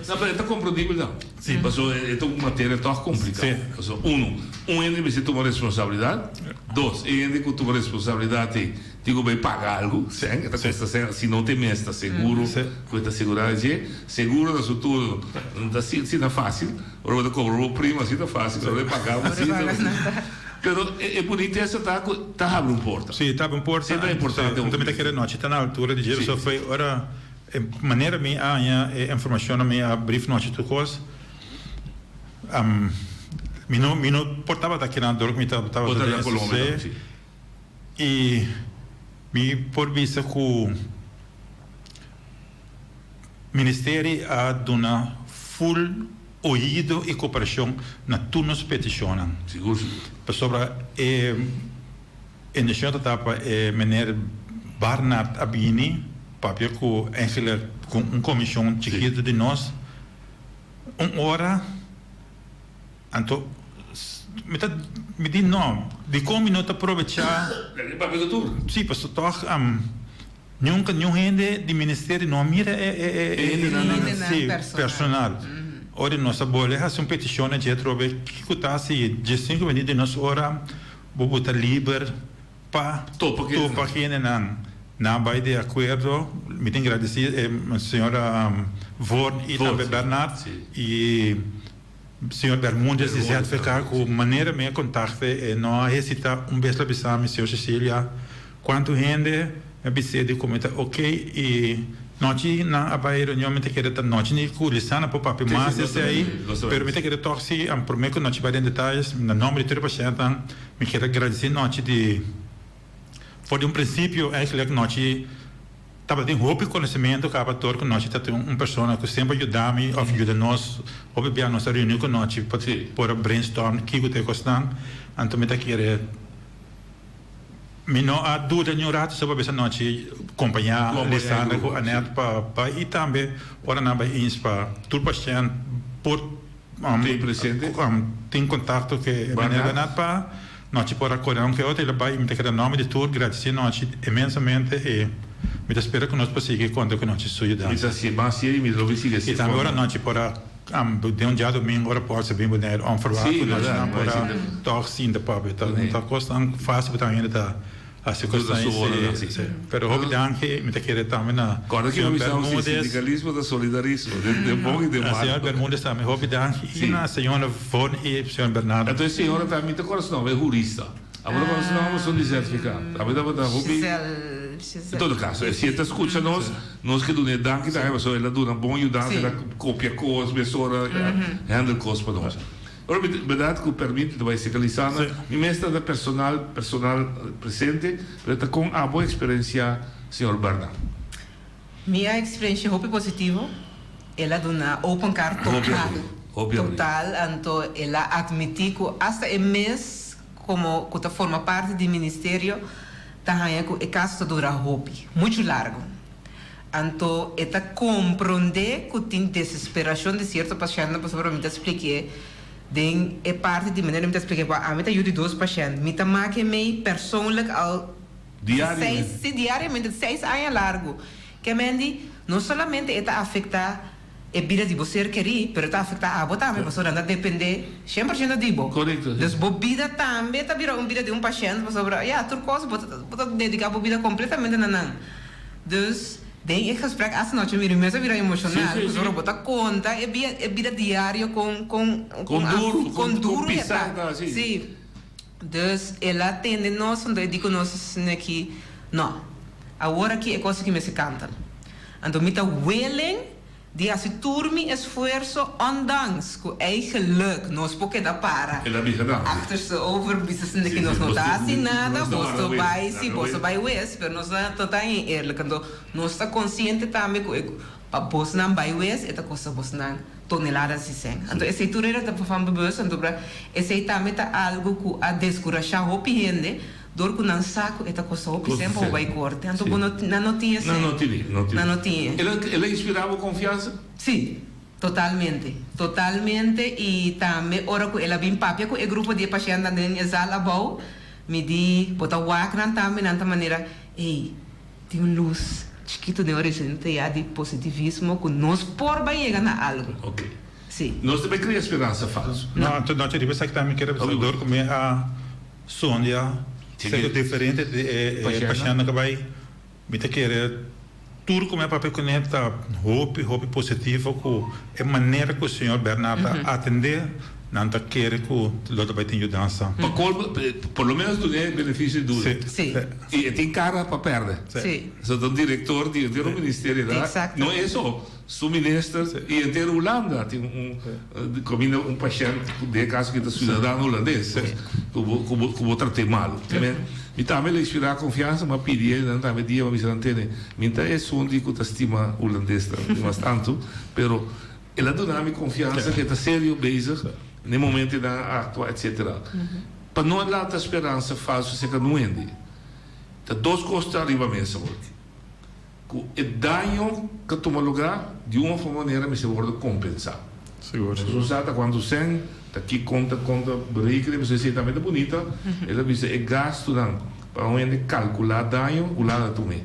No, pero e ta komprendible
dan. Si, paso e ta un materia tòg komplikado. Paso uno, un hende mester tuma responsabilidat. Dos, e hende ku tuma responsabilidat ei tin ku bai paga algu, sèn. E ta kosta sèn. Si no te mes ta seguro ku e ta segurá dje. Seguro na su tur no ta asina fásil. Ora bo ta cobra bo prima así ta fácil, pero ora e paga bo así ta difícil. Pero e bonitesa ta cu ta habri un porta. Sí, ta habri un porta. Siempre ta
importante bo. Bo ta mira
kere nochi ta na
altura di djero, so fue ora e manera mi a haña e informacionnan mi a brief nochi tur cos, mi no mi no por tabata aki nan dor cu mi tabata den SC.
I
mi por bisa ku ministeri a duna ful oido i koperashon na tur nos petishonnan. Sigur, sigur.
Pasobra
e inisiashon ta tapa e meneer Barnard a bini papia ku Angela ku un komishon chikitu di nos un ora. Anto, mi ta midí no. Dikon mi no ta probechá? Pero e papia ta tur. Sí, pasobra tòg nunka niun hende di ministerio no a mira e hendenan personal. Ora nos a bole hasi un petishon na Jethrobe, kiko ta hasi Justin ku bini den nos ora? Bobo ta liber pa topa hendenan. Nan a bai di akuerdo. Mi tin gradisí señora Vorn i tambe Bernard. Señor Bermudez di ZVK cu manera mi a contacte e no a hesita un bes lo bisa mi Señor Cecilia cuanto hende mi a bis'e di cu mi ta ok y nochi nan a bay reunion mi ta kere ta nochi ni cu Lisana por papia mas esey pero mi ta kere tok si an prome cu nochi bay den detalles na nomber di tur e pacientenan mi kere agradeci nochi di For di un principio Ashley cu nochi tabatin hopi conocimento caba tur cu nochi ta tin un persona cu semper yuda mi of yuda nos hopi bia nos ta reuni cu nochi pa por a brain storm kico ta e cosnan anto mi ta kere mi no a duda ni un rato so pa bisa nochi compaña Lisandra cu Annette pa bai y tambe ora nan bai ins pa tur pashent por Tin presente. Tin contacto cu e Meneer Bernard pa nochi por a core aunque e otro e la bay y mi ta keda nomber di tur gradeci nochi inmensamente y mi ta spera cu nos por sigui conta cu nochi su yudansa. Mi ta haci mas sier y mi
lo wi sigui haci fondo. Y tambe ora nochi por
a den un diadomingo ora por sa bin Bonaire onverwacht cu nochi nan por a tok sinta papia ta un ta cos tan facil pa ta hende ta. Hasi cos ta su ora d'hasi. Sí. Pero hopi danki mi ta kere tambe na señor Bermudez.
Sindicalismo ta solidarismo den bon y den malo. Na señor Bermudez tambe hopi
danki y na señora Von y señor Bernardo. Enton e señora ta mi ta
kòrda su nomber e hurista. Abo ta kòrda su nomber son di Zerfika. Abo tabata hopi. Gisèle. En todo caso si e ta scucha nos nos ke dun'e danki tambe pasobra el a duna bon yudansa el a copia cos mesora handle cos pa nos. Permit, Berdad cu permit ta bay seca Lisandra. Si. Mi mester ta personal, personal presente, pero ta con abo experencia, señor Bernard? Mi
a experencia hopi positivo. El a duna open car total. Hopi abri, hopi abri. Total, anto el a admiti cu hasta e mes como cu ta forma parti di Ministerio ta hanja cu e caso ta dura hopi, mucho largo. Anto e ta comprende cu tin desesperacion di cierto pacientnan pasobra mi ta splikié den e parti di manera mi ta splikié pa ami ta yu di dos pacient. Mi ta makié mei persoonlijk al di seis, si diariamente, di seis aña largu. Kemen di no solamente e ta afecta. E bida di bo ser kerí, pero ta afektá abo tambe, pasobra nan ta dependé shen por shento di bo. Dus bo bida tambe ta bira un bida di un pashènt, pasobra ya tur kos bo ta dediká bo bida kompletamente na nan. Dus, den e gesprék asta nochi mi mester bira emoshonal, pasobra bo ta konta e bida diario kon duru e ta.
Sí.
Dus el a tende nos anto e di ku nos asina aki, No, awor aki e kos aki mester kantal. Anto mi ta willing di hasi tur mi esfuerso ondanks ku eigeluk nos por keda para
achtersteover
bisa asina aki nos no ta hasi nada, boso bai si boso bai wes, pero nos ta no ta hin eerlijk anto nos ta konsiente tambe ku e Pa bosnan bai wes e ta kosta bosnan tonelada sisen. Anto esei tur era ta van bewust, anto pra esei tambe ta algu ku a deskurashá hopi hende dor ku nan sa ku e ta kosta hopi sen pa bo bai korte. Anto bo no nan no tin esei. Nan no tin e. El a inspirá bo
konfiansa? Sí.
Totalmente. Totalmente i tambe ora ku el a bin papia ku e grupo di e pashèntnan den e zal abou, mi di bo ta wak nan tambe, nan ta manera, ey, Tin un lus chikitu den orizente ya di positivismo ku nos por bai yega na algu. Oke. Si.
Nos no bai
krea speransa
falsu. No, anto nochi riba esaki
ta mi kere bisa dor ku mi a sonja sèke diferente di e pashèntnan ku bai. Mi ta kere tur ku mi a papia ku nan ta hopi, hopi positivo ku e manera ku señor Bernard ta atendé. Nan ta kere cu lo ta bay tin yudansa. Pa colmo, por lo
menos tune e beneficio di duna. Sí. Y e
tin cara
pa perde. Sí. Eso ta un
director
di entero un ministerio ta. Exacto. No eso, su minister y entero Hulanda tin un caminda un pashent cu den e caso aki ta ciudadano hulandes cu bo cu bo cu bo tratae malo. Amen. Mi tambe lo inspira confiansa mi a pidi e nan tambe dia mi a bisa nan tene. Mi ta esun di cu ta stima hulandes tambe dimastantu pero. El a duna mi confiansa cu e ta serio bezig na e momento e nan a actua etc. Pa no a lanta speransa falso seca nu hende. Ta dos cos ta riba mesa hoy. Cu e daño ta tuma lugar di un of otro manera mester wordo compensa. Nos no
sa ata cuantu
cen, ta ki conta, conta berekenen, mi so esey tambe ta bunita, el a bisa e gastonan. Pa un hende kalkulá daño Hulanda ta un e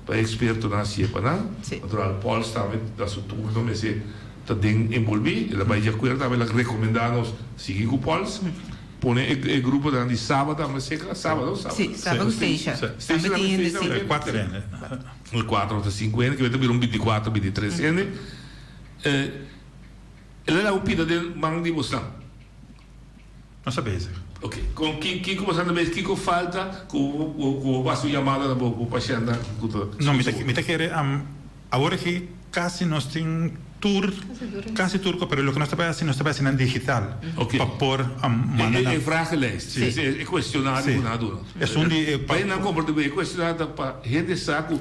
pa ekspertonan a sie pa nan. Natural Paul Stamet ta su turno mester ta den enbolbí. El a bai diakuerdo tabata el a rekomendá nos sigui ku Pauls pone e gruponan di Saba tambe a seka. Saba no? Saba. Saba ku Steisha.
Steisha tambe tin
hende si. Kuater hende.
Kuater. Kuater
ota sinku hende kiber ta bira un bintikuater bintitres hende. El a laga un pida den man di bosnan.
nos a bezig. Ok, con ki,
kiko bo sa ta bezig, kiko falta cu bo, cu bo basa un llamada na bo, bo pashenda cu ta No, mi ta,
mi ta kere, awor aki casi nos tin tur, casi tur cos, pero loke nos ta bay haci, nos ta bay haci nan digital, Ok. pa por
manda
nan. E, e
vragenlijst, si, si, e cuestionario cu nan a duna. Es un di e. Bay
nan comporta, e
cuestionario ta pa hende sa cu.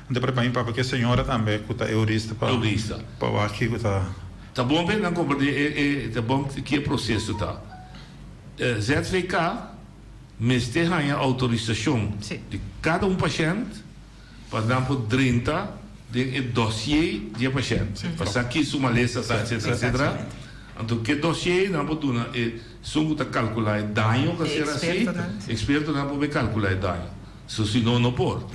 N ta prepara mi papa ke señora tambe ku ta eudista pa Eudista. pa wak kiko ta. Ta bon pa e
nan comprende e e ta bon ki e proceso ta. ZVK mester haña autorisacion Si. di cada un pashènt pa nan por drenta den e dosié di e pashènt Si. pa sa ki su malesa ta etcetera etcetera Exactamente. anto ke dosié nan por duna esun ku ta calcula e daño ku a ser asi Expertonan. expertonan por be calcula e daño. So si no no por.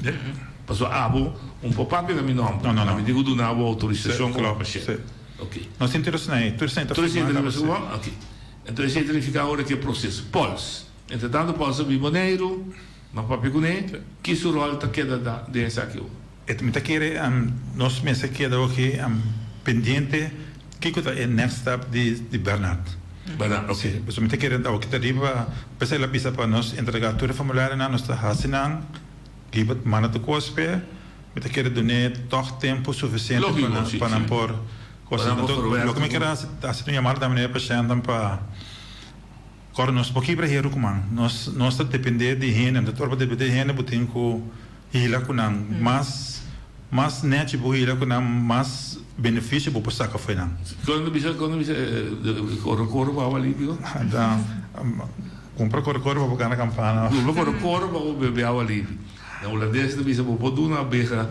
Paso abo un por papia na mi nom ta. A mi tin cu duna abo autorisacion pa papia shel.
Ok.
No sinti nos na e.
Tur esei ta firma caba si. Ok.
Enton esei ta nifica awor e proces. Pauls. Entretanto Pauls a bin Boneiru. Ma papia cune? Ki su rol ta keda den esaki awor? E mi ta kere
nos mes a keda oke pendiente kiko ta e next step di Bernard. Bernard, oke. Si,
pasobra mi ta kere
oke ta riba p'esei el a bisa pa nos entrega tur e formularionan nos ta hasi nan, riba manda ta kospe, mi ta kere dun'é tog tempu sufisiente pa nan, pa nan por kos asin. Anto loke mi kere hasi ta hasi un yamada tambe na e pashentenan pa kòrda nos, por kibra heru kuman nos ta dependé di hende, anto ora bo dependé di hende bo tin ku. Hila ku nan. Mas mas nèchi bo hila ku nan, mas benefisio bo por saka fo'i nan. Kòrda bisa, kòrda bisa
e korokoro pa bo awa limpio? Ta
kumpra korokoro pa bo kana kampana. Kumpra korokoro pa bo
bebe awa limpio. Na hulandes ta bisa bo por duna abeha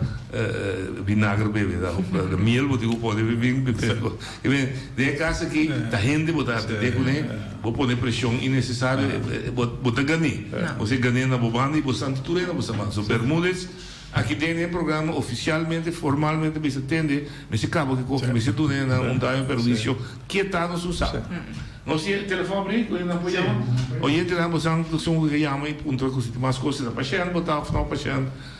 binagra bebe, ta miel bo tin ku pone bin. Den e kas aki ta hende bo ta atende kuné. Bo pone presion innesesario e bo ta gané. Bo ser gané na bo banda y bo san di tur hende bo sa man. So Bermudez aki den e programa oficialmente, formalmente mester tende, mester cabo kico cu mester duna e nan un daño perjuicio ke ta nos un sa. Nos tin e telefon abri cu e nan por yama. Oyente nan bo san, bo ta sungu cu e yama y puntra cu si tin mas cos ta pashent bo ta of no pashent.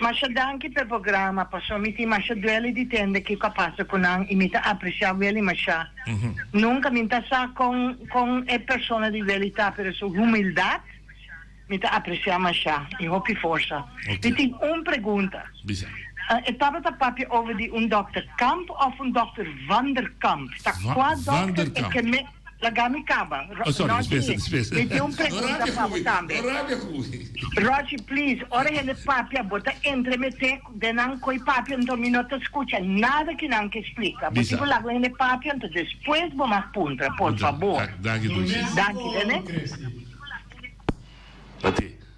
Masha danki
p'e programa paso mi tin masha duele di tende kico a pasa cu nan y mi ta aprecia Willy masha. Nunca mi n'ta sa con con e persona di Willy ta pero su humildad mi ta aprecia masha y hopi forsa. Mi tin un pregunta. E tabata papia over di un Dokter Kamp of un Dokter Vanderkamp? Ta cua Dokter e ke me. Laga mi caba. Ro oh, sorry, Rochi,
mi tiene un pregunta
para vos también. Rochi, please, ora hende papia, vos ta entremete den nan coi papia, entonces mi no ta escucha nada que nan ke explica. Vos tipo laga un hende papia, entonces después vos mag puntra, por favor. Danki, Lucia. Danki,
Rene. Tate.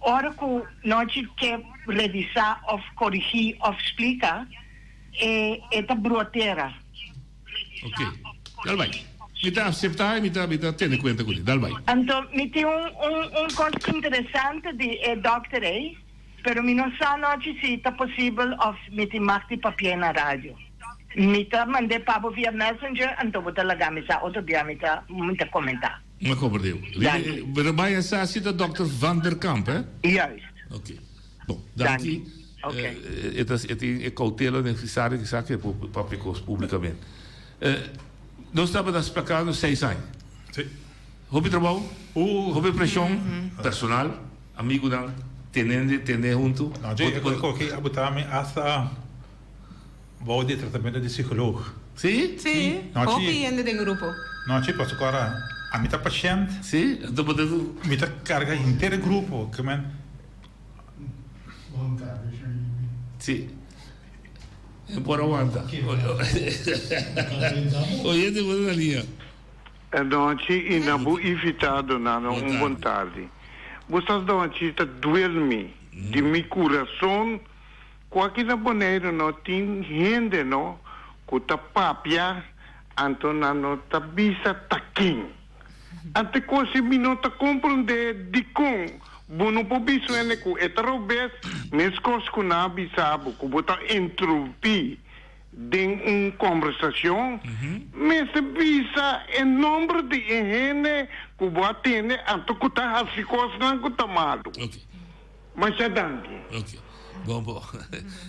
Ora ku nochi ke revisá òf korigí òf splika, e e ta bruatera.
Oke. Dal bai. Mi ta aseptá i mi ta mi ta tene kuenta ku li. Dal bai. Anto mi tin un
un un kos interesante di e dòkter ei, pero mi no sa anochi si ta posibel òf mi tin mag di papi'e na radio. Mi ta mand'e pa bo via messenger, anto bo ta laga mi sa. Otro dia mi ta mi ta komentá. Na Coverdale.
Danki. Ri bai a sa si ta Dokter Van der Kamp, he? Juist. Oké. Bon, danki. Danki. Oké. Eh, e ta, e tin e koutela den Frisario kisa ke por papia kos publikament. Eh, nos tabata sprakando seis aña. Sí.
Hopi trabou.
Ooh. Hopi preshon personal, amigunan, tenende, tende huntu. Nan dje e koki
abo ta mi asta. Bou di e tratamento di sikolog? Sí. Sí.
Hopi
hende den grupo. Nochi, pasobra ku ara
ami ta pashènt. Sí. Enton bo ta.
Mi ta karga
henter e grupo. Ke men.
Sí. E por a wanta. Oyente bo ta na liña.
E nochi i na bo
invitado
nano un bon tardi. Bo sa nochi ta duel mi di mi kurason. Cu aki na Boneiru no tin hende no cu ta papia anto nan no ta bisa ta kin. Ante cosi mi no ta compronde dicon bo no por bisa un hende cu e ta robes mescos cu nan a bisa bo cu bo ta intrumpi den un conversacion. Mester bisa e nomber di e hende cu bo a tende anto cu ta haci cosnan cu ta malu. Masha danki. Ok.
Bon bo.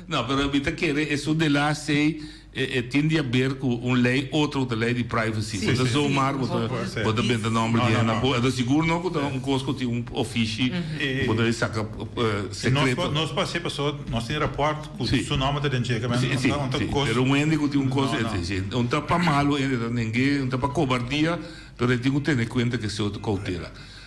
No, pero mi ta kere e su delaas ei e e tin di haber ku un lei otro ku ta lei di privacy. Sí, Bo ta sí. zomar, bo ta Puede ser. bo ta benta nomber No, di no, henda no. bo henda sigur no ku ta un kos ku tin un ofishi E- bo ta e saka eh, E nos sekreto. pa nos pa hasi paso
nos tin raport ku Sí. su nomber ta den cheker men Sí, un sí, ta un ta sí. kos Pero un
hende ku tin un kos No, eh, no. sí, sí. Un ta pa malo hende ta nengue, un ta pa kobardia, pero e tin ku tene kuenta ku e sehu ta koutela.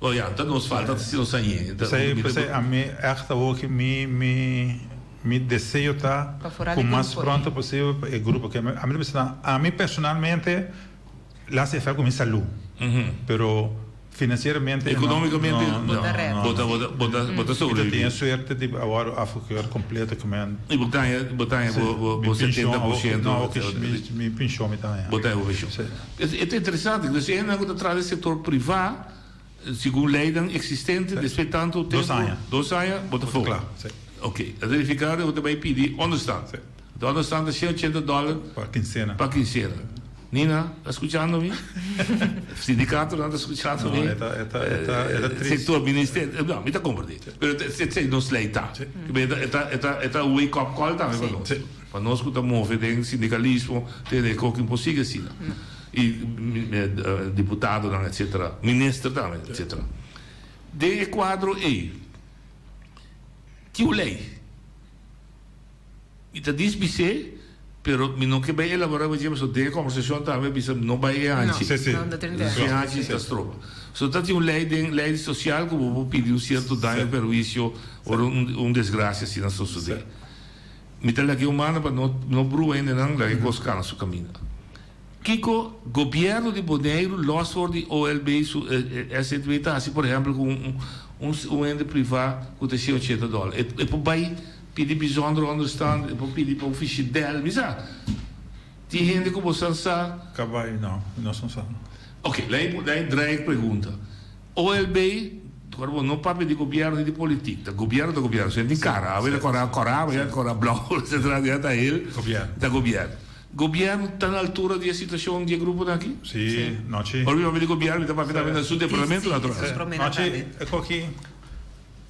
Oh ya, ta nos falta ta si nos ta yen. P'esei, p'esei ami
ègt a hopi, mi, mi, mi deseo ta ku mas pronto posibel pa e grupo, ke ami ta bisa nan, ami personalmente lo hasi efèkt ku mi salú, pero finansieramente no, no, no,
bo ta, bo ta, bo ta sobreviví. Mi ta tene suerte di
awor a fokeur kompleto ku men. I bo taña, bo taña
bo, bo, bo setenta por shento, mi pinshon,
mi pinshon mi taña. Bo taña bo pinshon.
E ta interesante, ento si e hendenan ku ta traha den sektor privá, segun leinan eksistente, despues di tantu tempu, dos aña, bo ta for. Oke, ta verifiká ku ta bai pidi ònderstant. Te ònderstant ta shei ochenta dòler pa kinsena. Nina, ta skuchando mi? Sindikatonan ta skuchando mi? Sektor ministerio? No, mi ta komprendé. Pero esei nos lei ta. E ta awei kòp kòl tambe pa nos. Pa nos cu ta move den sindicalismo tene e cokin por sigui asina. Y diputadonan etc. Minister tambe etc. Den e cuadro ey tiu ley. Mi ta diz bis'e pero mi no ke bay elabora baie pasobra den e conversacion tambe mi bisa no bay e hanchi. Si hanchi ta stroba. So ta tin un ley den ley social cu bo por pidi un cierto daño o perhuicio ora un desgracia asina socede. Mi ta lag'é un mana pa no no brua hendenan, lag'é kos kana su kaminda. Kiko gobièrnu di Boneiru lòs for di OLB su SZW ta hasi por ehèmpel ku un un un hende privá ku ta shei un shete dòl. E e por bai pidi bizondere ònderstand, e por pidi pa ufishie bèl, mi sa. Tin hende ku bosan sa. Ka bai, no,
nos no sa. Oke, lei
lei dreig pregunta. OLB, Kor bo no papia di gobièrnu ni di politik, ta gobièrnu ta gobièrnu, su e tin kara, awe ta kora kora, mañana ta kora blou, etsetera, dia ta hel, ta gobièrnu. Gobièrnu ta na altura di e situashon di e gruponan aki? Sí, nochi.
Ora mi papia di gobièrnu, mi ta papia
tambe na su departamentu natural. Nochi, e
koki.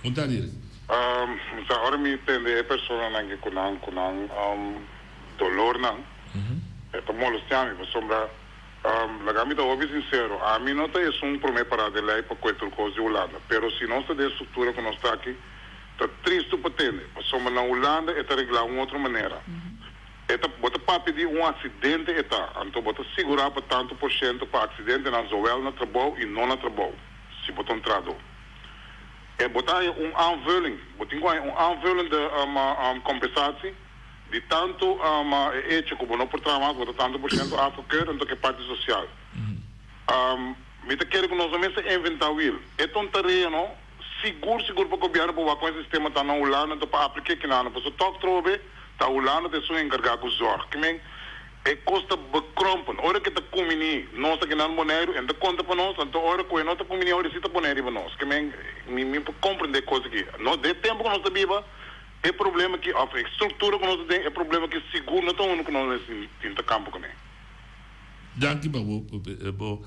Con ta dil?
Mi sa
ora mi tende e personanan ke ku nan ku nan dolornan e ta molestea mi pasobra laga mi ta hopi sinsero ami no ta esun prome pará den lei pa kue tur kos di Hulanda pero si nos ta den struktura ku nos ta aki ta tristu pa tende pasobra na Hulanda e ta reglá un otro manera e ta bo ta papia di un aksidente e ta anto bo ta sigurá pa tantu por shento pa aksidentenan zowel na trabou i no na trabou si bo ta un trahadó. E bo ta haña un aanvulling, bo tin ku haña un aanvulling de kompensatie di tantu e hecho ku bo no por traha mas, bo ta tantu por shento afgekeurd entok e parti sosial. Mi ta kere ku nos no mester ta inventá wiel. E ta un tarea no sigur sigur pa gobièrnu pa wak kon e sistema ta na Hulanda entok pa aplik'é kina no pasobra tòg trobe ta Hulanda ta esun enkargá ku zòrg. Kimen E kos ta bekrompen. Ora ku e ta kuminí, nos ta kenal Boneiru. E no ta konta pa nos. Anto ora ku e no ta kuminí, awe e sí ta pone riba nos. Ke men, mi mi por komprendé e kos akí. Nos, den e tempu ku nos ta biba, e problema akí, òf e struktura ku nos ta den, e problema akí sigur no ta unu ku nos mester tin ta kampa kuné.
Danki pa bo, bo.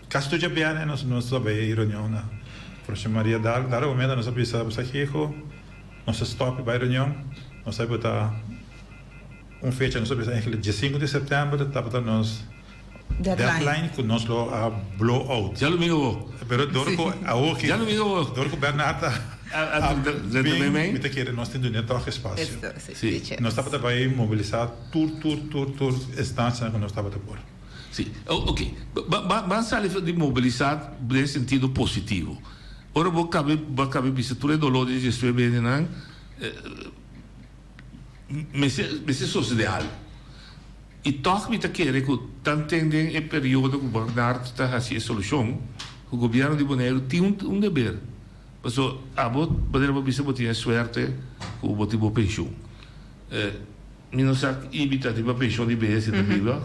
Kas tu dje bierne nos nos ta bai e reunionnan. Profesor Maria Daal, Dara momento nos a bisa boso Hego, nos ta stop bai reunion, nos ta bota un fecha, nos ta bisa enkele dia sinku di september tabata nos deadline ku nos lo a blow out. Dja lo mira bo. Pero
dor ku
awoki, Dja lo mira bo. dor ku
Bernard a
A drenta bin,
meme. mi ta kere nos tin
dun'é tòg espasio. Esto, sí, Sí. teacher. Nos tabata bai mobilisá tur tur tur tur instancianan ku nos tabata por. Si. Oke,
ban sali for di mobilisá den sentido positivo. Ora bo kab'é, bo a kab'é bisa tur e doló di dje sue bendenan, mester, mester sosodé algu. I tòg mi ta kere ku tan ten den e periodo ku Bernard ta hasi e solushon, ku Gobièrnu di Boneiru tin un deber. Pasobra abo manera bo a bisa bo tin e suerte ku bo tin bo penshun. Mi no sa y mi ta riba pension y bes y ta biba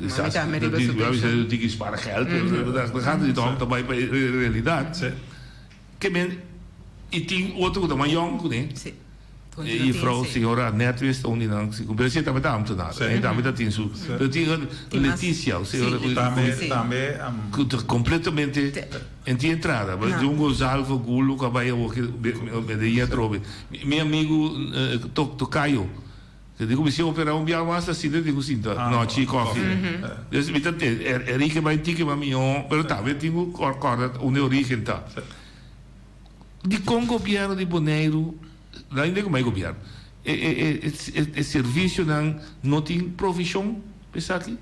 Kisa ta mi riba su pension. Mami ta biba su pension. Mami ta tiki spara geld ta gata y hopi ta bay pa e realidad ke men y tin otro ku ta mas yong ku ne e juffrouw señora Annette wees ta un di nan pero esei tambe ta ambtenaar e tambe ta tin su pero tin Leticia
ku ta completamente
En tin entrada bai di un Gonzalvo gulo ku a bai awo ke me dei atrobe. Mi amigu tok tokayo ke di ku mi si operá un biaha mas ta sinta e tin ku sinta nochi i kòfi. Des mi ta tende e origen bai tin ke mami ho pero ta mi tin ku kòrda unda e origen ta. Dikon gobièrnu di Boneiru laga inda ku bai gobièrnu e servisionan no tin provishon pa esaki?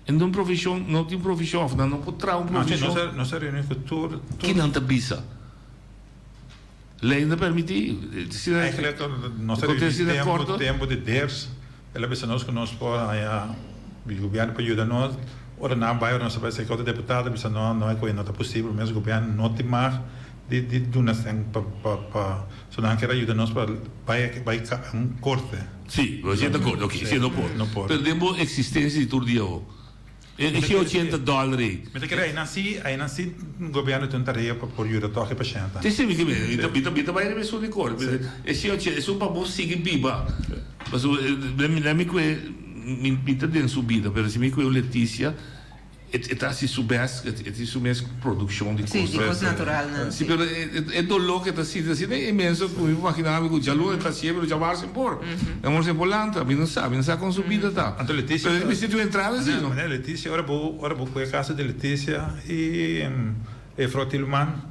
Nan tin un provishon, no tin provishon of nan no por traha un provishon. Así nos a reuni cu
tur, tur. Ki nan ta bisa?
Ley no ta permiti. Eigenlijk
nos a reuni tempo, tempo di ders. El a bisa nos cu nos por haña di gobierno pa yuda nos. Ora nan a bai, ora nos a bai cerca otro deputado a bisa nos, no hay cu e no ta posible, mes gobierno no tin mag di, di duna sten pa, pa, pa. So nan a kere a yuda nos pa bai, bai un corte. Sí, lo hasié
ta kos. Oké, sí, no por. No por. Pero den bo eksistensia di tur dia ho, e e shia ochenta dòler ei. Mi ta kere ainan sí,
ainan sí gobièrnu tin un tarea pa por yuda tòg e pashèntenan. Te sibi ke mi mi ta
mi ta mi ta bai riba e sur di kor. Sí. E shia ochen, esun pa bo sigui biba. Pasobra, na mi na mi kue mi mi ta den su bida, pero si mi kue un Leticia. E ta hasi su bes, e tin su mes produccion di cosas. Si, di cos naturalnan,
si. Pero e
dolo cu e ta sinti asina e menso cu mi imagina mi cu djalun e ta hacié pero dja wars impor. E amor siempre lanta, mi no sa, mi no sa con su bida ta. Anto Leticia. Pero e misti tin un
entrada así,
no? Manera Leticia, ora bo,
ora bo cu e casa di Leticia y e vrouw Tilman.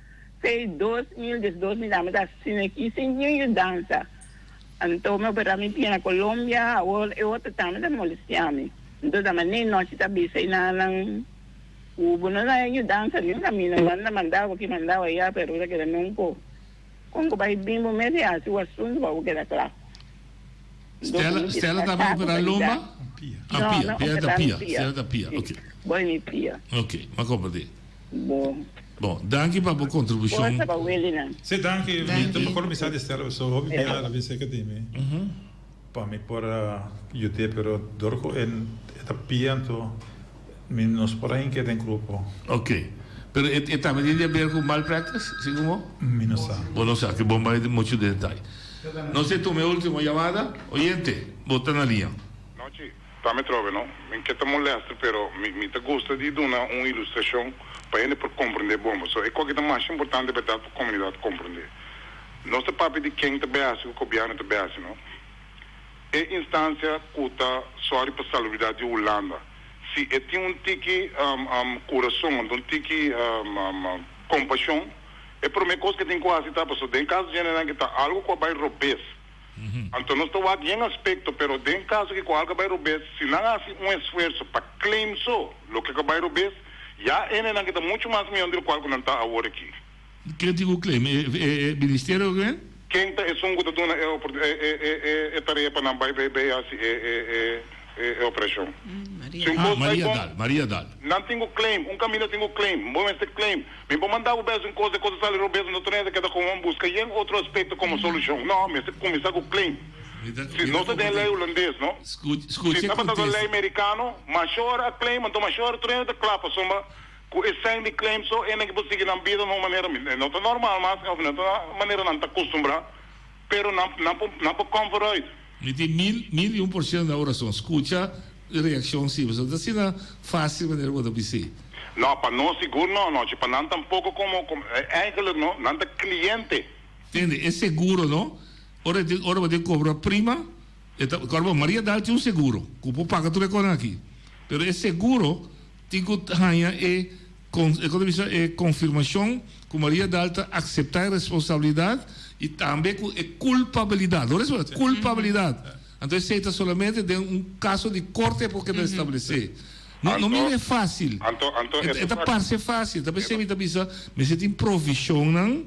P'ei dos mil diesdos mi dame ta asina aki sin niun yudansa. Anto mi operá mi pia na Colombia, awor e otro tambe ta molestiá mi. Anto dame nei nochi ta bisa i nannan ku bo no dai yudansa niun a mi, no manda mandá bo aki, mandá bo ayá, pero bo ta keda non ko. Kon ku bai bin bo mes i hasi bo asuntu pa bo keda kla. Stella, Stella
ta bai operá lomba? Pia. Ah, pia, pia ta pia, Stella ta pia, ok. Bo i mi pia.
Ok, m'a komprendé. bo. Bo, danki pa bo
kontribushon. Forsa pa Wilinan. Sí,
danki. Mi ta por kuminsá di stèl so hopi bia a bin sèker di mi pa mi por a yud'é, pero dor ku e ta pia anto mi
no
por a hink'é den grupo. Oke. Pero
e e tambe tin di aber ku malpraktis? Si kum'o? Mi no sa. Bo no
sa. Oke, bo
bai muchu detai. Nos e tuma e último yamada. Oyente, bo ta na liña. Nochi.
Ta mi trobe no. Mi ke ta molester pero mi mi ta gusta di duna un ilustrashon pa hende por komprende bon pa so e koke ta masha importante berdad pa komunidat komprende. Nos ta papia di ken ta bai hasi ku gobièrnu ta bai hasi no. E instansia ku ta sòri pa salubridat di Hulanda si e tin un tiki kurason anto un tiki kompashon e promé kos ke tin ku hasi ta paso den e kaso djenenan ke ta algu ku a bai robes. Anto nos ta wak yen aspekto, pero den kaso ki koal ka bai robes, si nan hasi un esfuerso pa claim so loke ka bai robes, ya endenan kita mucho mas miyon di lokual ku nan ta awor aki. Ken tin ku claim?
E Ministerio oke men? Ken ta esun ku ta
duna e tarea pa nan bai bai hasi e operashon? Si un kos
ta bon, nan tin ku claim,
un kaminda tin ku claim, bo mester claim. Mi por manda bo bes un cos de cosas ale robes no tenesa keda con un busca yen otro aspecto como solucion. No, mester cuminsa cu plain. Si no ta den ley Hulandes, no? Si tabata
den ley
Mericano, mashor a claim, anto mashor tenesa ta cla pasobra cu e sign di claim so, enan ke por sigui nan bida na un manera mi. No ta normal mas of no ta manera nan ta custumbra. Pero nan nan por nan por comfort uit. Mi tin mil
mil y un por ciento na oracion. Scucha reaccion siempre. So ta asina facil manera bo ta bici. No, pa nos
sigur no anochi. Pa nan tampoco como como e eigenlijk no, nan ta cliente. Tende, e
seguro no, ora e tin ora bo tin cobra prima, e ta kor bo Maria Dal tin un seguro cu por paga tur e cona aki. Pero e seguro tin cu haña e. Con e contribucion e confirmacion cu Maria Dal ta acepta e responsabilidad y tambe cu e culpabilidad, lo respon ta culpabilidad, anto esey ta solamente den un caso di corte por keda establece. No, no mira e facil, e ta parce facil, tapi esey mi ta bisa mester tin provisionnan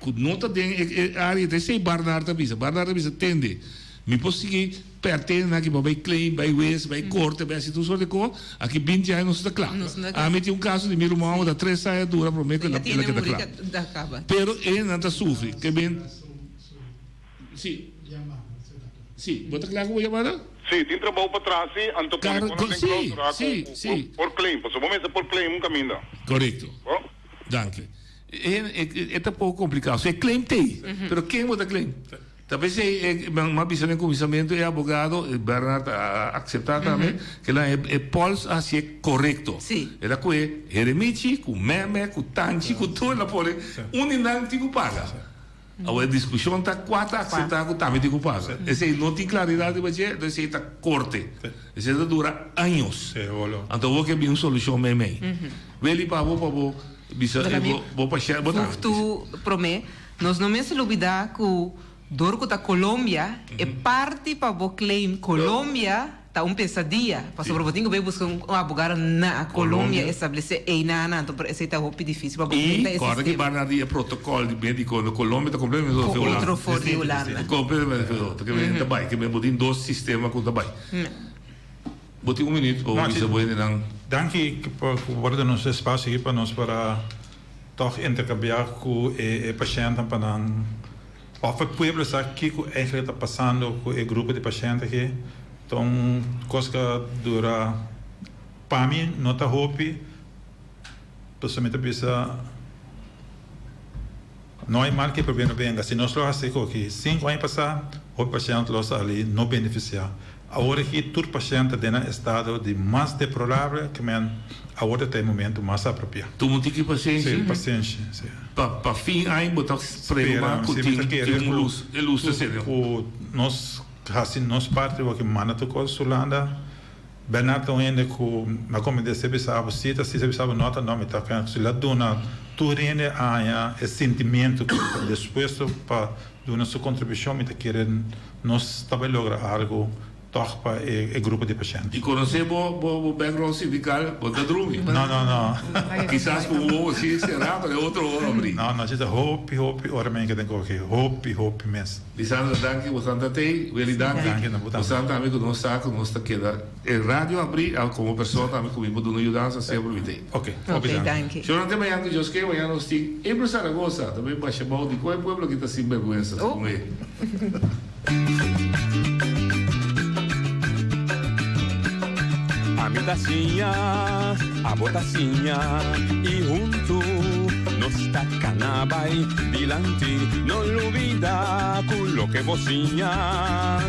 Ku no ta den e área ta esei Barnard ta bisa. Barnard ta bisa, Tende, mi por sigui pèrtende na aki pa bai claim, bai wes, bai korte, bai hasi tur sort di kos. Aki binti aña nos ta kla. Ami tin un kaso di mi ruman ku ta tres aña a dura promé ku el a keda kla. Pero e nan ta sufri. Ke bend. Sí. Sí, bo ta kla ku bo yamada? Sí, tin trabou pa
tras si anto pone bo nan den klausura ku bo por claim. Pasobra bo mester por claim un kaminda. Korekto.
Danki. E ta poko kompliká. So e claim ta ei. Pero ken bo ta claim? Ta vez ei e nan a bisa den kuminsamentu e abogado, Bernard a akseptá tambe, kilahan e e pòls a hasié korekto. E ta kohe Heremichi, ku Meme, ku Tanchi, ku tur nan pone un di nan tin ku paga. Awor e diskushon ta kua ta akseptá ku tamiti ku pasa. Esei no tin klaridat riba dje, entonces esei ta korte. Esei ta dura años. Anto bo ke bin un solushon meimei. Weli pa bo, pa bo bisa e bo, bo pa shel, bo ta. Futu
promé, nos no mester lubidá ku dor ku ta Colombia, e parti pa bo claim Colombia. Ta un pesadia, pasobra bo tin ku bai buska un abogado na Colombia establece eina anan, anto por esei ta hopi dificil pa bo enfrenta e sistema. Y ora ki banda
di e protocol di medico na Colombia ta completamente diferente cu otro for di Hulanda.
Completamente diferente. Ke
men ta bai, ke men bo tin dos sistema ku ta bai. Bo tin un minuut pa bo bisa bo hende nan. Danki por
worda nos espacio aki pa nos para toch intercambia ku e paciennan pa nan. Of e pueblo sa kiko eislega ta pasando ku e grupo di pashent aki, ta un kos ku a dura, pa mi no ta hopi, pasobra mi ta bisa no hay mal que por bien no venga, si nos lo hasi aki sinku aña pasá hopi pashent lo sali no benefisiá. Awor aki tur pashent ta den nan estado di mas deplorable ke men awor ta ta e momento mas apropiá. Tur munt tin ki pasenshi.
Sí, pasenshi, sí.
Pa pa fin
aña bo ta sprema ku tin tin un lus, e lus ta sende. Ku nos
hasi nos parti awor aki manda tur kos Hulanda. Bernard ta un hende ku mi a komete esei bisabo sí ta sí esei bisabo no ta no mi ta pensa ku si lo a duna tur hende aña e sintimentu ku despuesto pa duna su kontribushon mi ta kere. Nos ta bai logra argo tog pa e grupo di pashent. I conoce bo bo
bo background sindical, bo no ta drumi? No, no, no.
Kisas cu
un ojo si cera pero e otro ojo abri. No, no, ci ta hopi,
hopi ora men ke den coge, hopi, hopi mes. Lisandra danki, botan
ta tey. Willy danki, botan tambe cu nos sa cu nos ta keda. E radio abrí al komo persona tambe ku mi por duna yudansa sea por mi t'e. Ok, hopi danki.
Señor ante
mañana ku djoskee
mañana nos tin April Zaragoza ta bin basha bou dikon e pueblo aki ta sinbergwensa segun e.
Ami ta siña, abo ta siña i huntu nos ta kana bai dilanti. No lubida ku loke bo siña.